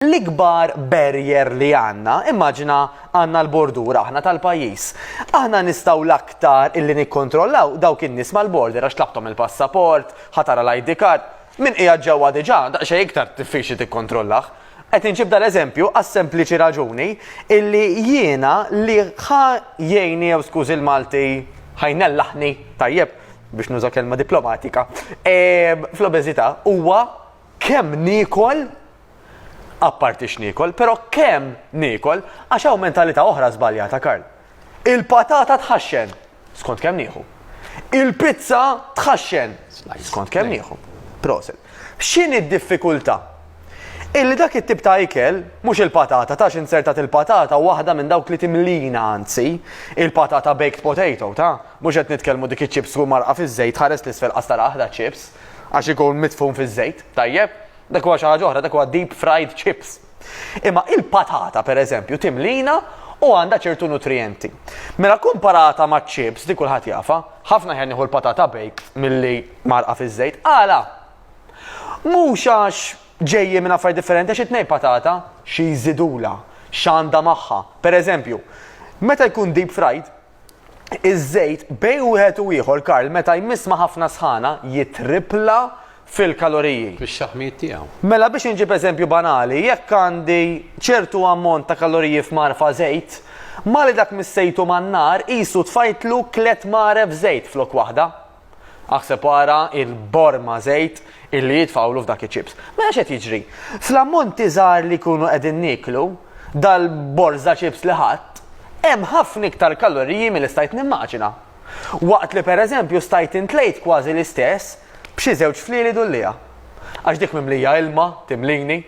L-ikbar barrier li għandna, immaġina għandna l-bordur aħna tal-pajjiż. Aħna nistgħu l-aktar illi nikkontrollaw dawk in-nies mal-border għax tlaqthom il-passaport, ħa tara l-ID card. Min qiegħed ġewwa diġà, daqsxejn iktar diffiċli tikkontrollah. Qed inġib dal-eżempju għas-sempliċi raġuni illi jiena li ħa jgħinni jew skużi l-Malti ħa jnellaħni, tajjeb, biex nuża kelma diplomatika, fl-obeżità huwa kemm niekol, apparti x'niekol, però kemm niekol, għax hawn mentalità oħra żbaljata, Karl. Il-patata tħaxxen, skont kemm nieħu. Il-pizza tħaxxen, skont kemm nieħu. Proset. X'inhi d-diffikultà? Illi dak it-tip ta' ikel, mhux il-patata, tax insertat il-patata waħda minn dawk li timlina anzi, il-patata baked potato, ta' Mhux qed nitkellmu dik iċ-chips tkun mgħarrqa fiż-żejt, ħares 'l isfel qas tara aħdha chips, għax ikun midfun fiż-żejt, tajjeb? Dak huwa xi ħaġa oħra, dak huwa deep fried chips. Imma il-patata, per eżempju, timlina u għandha ċertu nutrijenti. Mela kkumparata maċ-chips, dik kulħadd jafha, ħafna aħjar nieħu l-patata baked milli mgħarrqa fiż-żejt. Għala? Mhux għax ġejjin minn affarijiet differenti għax it-tnejn patata xi jżidulha, x'għandha magħha. Per eżempju, meta jkun deep fried, iż-żejt bejn wieħed u ieħor Karl meta jmiss ma' ħafna sħana jitripla fil-kaloriji. Fix-xaħmijiet tiegħu. Mela biex inġib eżempju banali, jekk għandi ċertu ammont ta' kaloriji f'mgħarfa żejt, mali dak missejtu man-nar qisu tfajtlu tliet mgħaref żejt flok waħda. Aħseb ara il-borma żejt illi jitfawlu f'dak iċ-chips. Mela x'qed jiġri? Fl-ammonti żgħar li jkunu qegħdin nieklu, dal-borża chips li ħadt, hemm ħafna iktar kaloriji milli stajt nimmaġina. Waqt li pereżempju stajt intlejt kważi l-istess b'xi żewġ flieli dullija. Għax dik mimlija ilma timlini.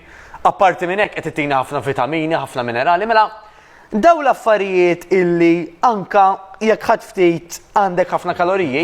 Apparti minn hekk qed ittini ħafna vitamini, ħafna minerali, mela dawn l-affarijiet illi anke jekk ħadt ftit għandek ħafna kaloriji.